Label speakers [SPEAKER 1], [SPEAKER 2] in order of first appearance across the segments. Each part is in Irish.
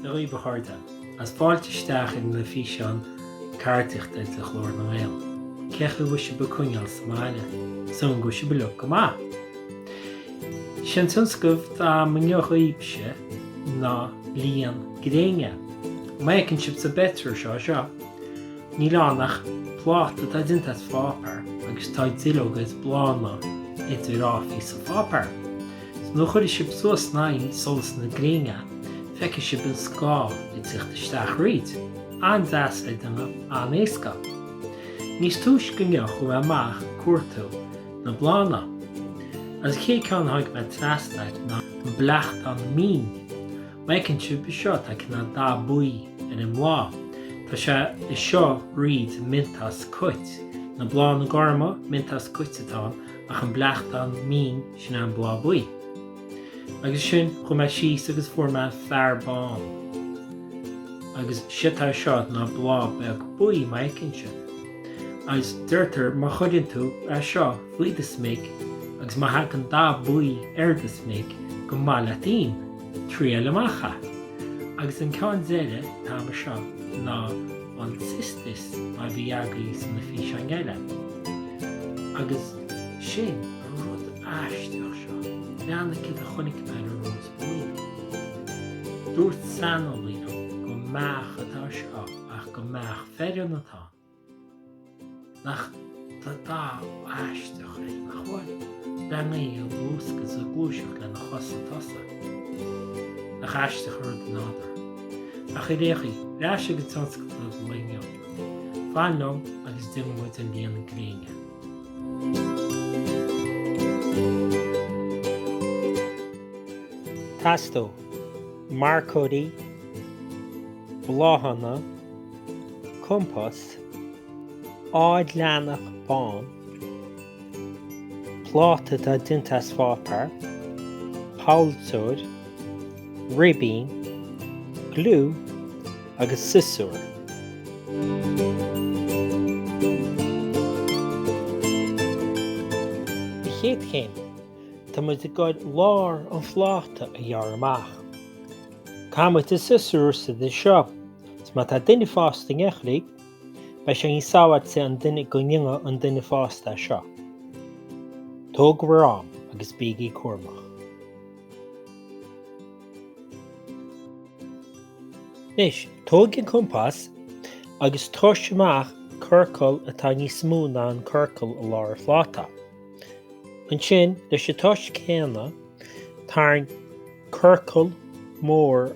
[SPEAKER 1] Dhaoibh a chairde, is fáilte isteach chuig na físeáin ceardaíochta de Ghlór na nGael. Cén chaoi a bhfuil sibh ag coinneáil sa mbaile, súil agam go bhfuil sibh uilig go maith. Sé an tionscnamh atá agam inniu dhaoibhse ná líon gréine. An bhfeiceann sibh sa bpictiúr seo? Seo. Níl ann ach pláta atá déanta as pháipéar agus tá duilleoga is bláthanna idir áfaí sa pháipéar. So nuair a chuirfidh sibh suas in aghaidh solas na gréine feicfidh sibh an scáth ag tíocht isteach thríd. An-deas le déanamh, an-éasca. Níos túisce inniu chuaigh mé amach ag cuartú na bláthanna. Agus an chéad ceann a tháinig mé trasna air ná an bleachtán mín. Mar a fheiceann sibh anseo tá cineál dath buí ar an mbláth. Tá sé anseo thríd an miontas cait. Na bláthanna gorma, miontas cait atá ann, ach an bleachtán mín, sin é an bláth buí. Agus sin, chuaigh mé síos agus fuair mé fearbán. Agus séard atá anseo ná bláth beag buí mar a fheiceann sibh. Agus deirtear má chuireann tú é seo faoi do smig agus má thagann dath buí ar do smig, gur maith leat im. triail amach é. Agus an ceann deiridh atá agam anseo ná an cistus mar a bhí agaibh sna físeáin eile. Agus sin an rud aisteach seo, breathnaigh céard a chonaic mé ar an rós buí. Dúirt saineolaí liom gur beach atá anseo ach gur beach fhireann atá. ann ach tá dath aisteach air nach bhfuil? Breathnaigh é ag luascadh is ag gluaiseacht lena chosa tosaigh. Nach aisteach an rud an nádúr. Ach ar aon chaoi, ar ais chuig tionscadal an lae inniu. Fan liom agus déanfaidh muid an líon gréine. Teastóidh marcóirí, bláthanna. compás, ard leathanach bán, pláta atá déanta as pháipéar, polltóir, ribín, gliú agus siosúr. An chéad chéim, tá muid ag gabháil lár an phláta a ghearradh amach. Caithfidh muid an siosúr a úsáid anseo. Is má tá duine fásta in aice libh, beidh sé níos sábháilte an duine go ndéanfadh an duine fásta é seo. Tóg bhur n-am agus bígí cúramach. Anois, tóg an compás agus tomhais amach ciorcal atá níos mó ná an ciorcal i lár an phláta. Ansin, leis an tomhas céanna, tarraing ciorcal mór.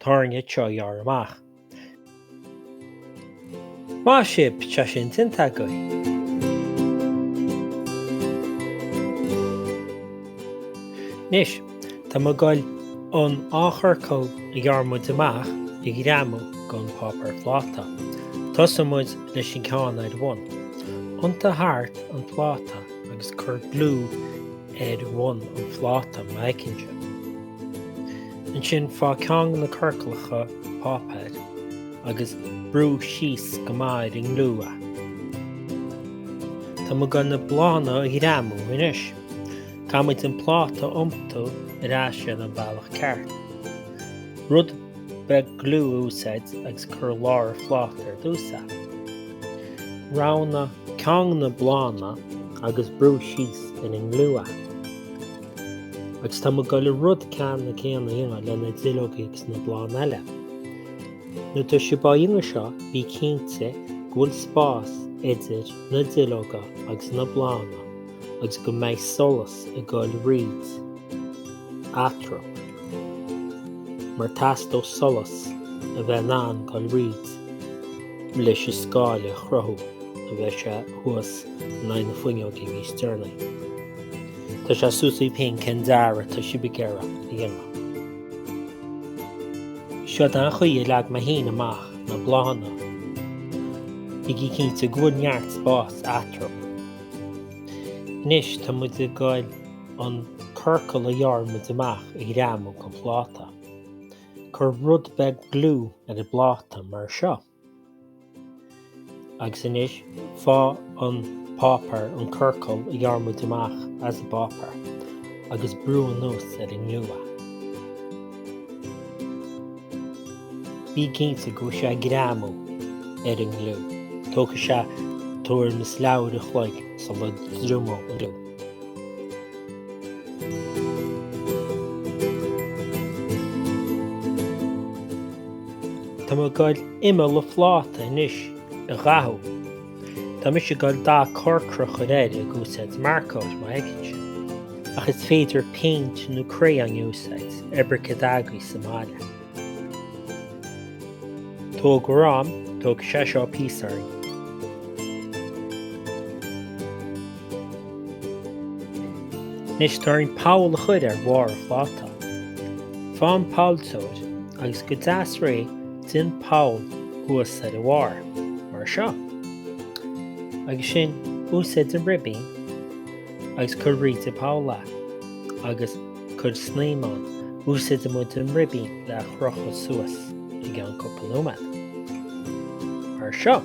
[SPEAKER 1] Tá orainn é seo a ghearradh amach. Maith sibh, tá sin déanta againn. Anois, tá muid ag goil an dá chiorcal a ghearr muid amach a ghreamú don pháipéar pláta. Tosóidh muid leis an gceann ar bhun. Iontaigh thart an pláta agus cuir gliú ar bhun an phláta, mar a fheiceann sibh. Ansin faigh ceann de na ciorcalacha páipéir agus brú síos go maith ar an ngliú é. Tá muid ag goil na bláthanna a ghreamú anois. Caithfidh muid an pláta a iompú ar ais ar an mbealach ceart. Rud beag gliú a úsáid agus cuir i lár an phláta ar dtús é. Roghnaigh ceann de na bláthanna agus brú síos ar an ngliú é. Agus tá muid ag goil an rud ceannann céanna a dhéanamh le na duilleoga agus na bláthanna eile. Nuair atá sibh á dhéanamh seo, bí cinnte go bhfuil spás idir na duilleoga agus na bláthanna agus go mbeidh solas ag goil thríd eatarthu. Mar teastóidh solas a bheith in ann goil thríd leis an scáile a chruthú nuair a bheidh sé thuas in aghaidh na fuinneoige níos deireanaí. Tá sé suas agaibh féin cén dearadh atá sibh ag iarraidh a dhéanamh. Seo é an chaoi a leag mé féin amach na bláthanna. Bígí cinnte go bhfuil neart spáis eatarthu. Anois tá muid ag gabháil an ciorcal a ghearr muid amach a ghreamú don phláta. Cuir rud beag gliú ar an bpláta mar seo. Agus anois faigh an páipéar, an ciorcal a ghearr muid amach as an bpáipéar agus brú anuas ar an ngliú é. Bí cinnte go bhfuil sé ag greamú ar an ngliú. Tógfaidh sé tuairim is leathuair an chloig sula dtriomóidh an gliú. Tá mé ag goil imeall a phláta anois a dhathú. Tá mise ag goil dath corcra a chur air ag úsáid marcóir, má fheiceann sibh. Ach is féidir péint nó crayon a úsáid nó pé ar bith céard atá agaibh sa mbaile. Tógann, tógfaidh sé seo píosa orm. Anois tá orainn poll a chur ar bharr an phláta. Faigh an polltóir agus go deas réidh déan poll thuas ar a bharr, mar seo. Agus ansin úsáid an ribín agus cuir thríd an bpoll é, agus cuir snaidhm ann. Úsáidfidh muid an ribín le a chrochadh suas i gceann cúpla nóiméad. Mar seo.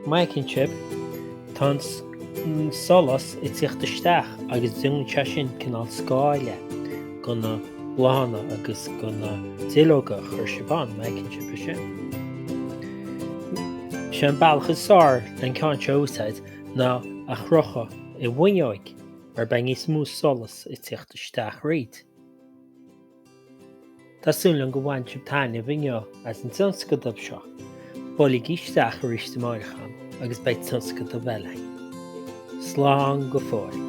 [SPEAKER 1] Má fheiceann sibh, tá an solas ag teacht isteach agus déanann sé sin cineál scáile do na bláthanna agus do na duilleoga a chur sibh ann, má fheiceann sibh é sin. Is é an bealach is fearr leis an gceann seo a úsáid ná a chrochadh i bhfuinneoig mar beidh níos mó solas ag teacht isteach thríd. Tá súil agam gur bhain sibh taitneamh inniu as an tionscadal seo. Buailigí isteach arís amáireach agus beidh tionscadal eile againn. Slán go fóill.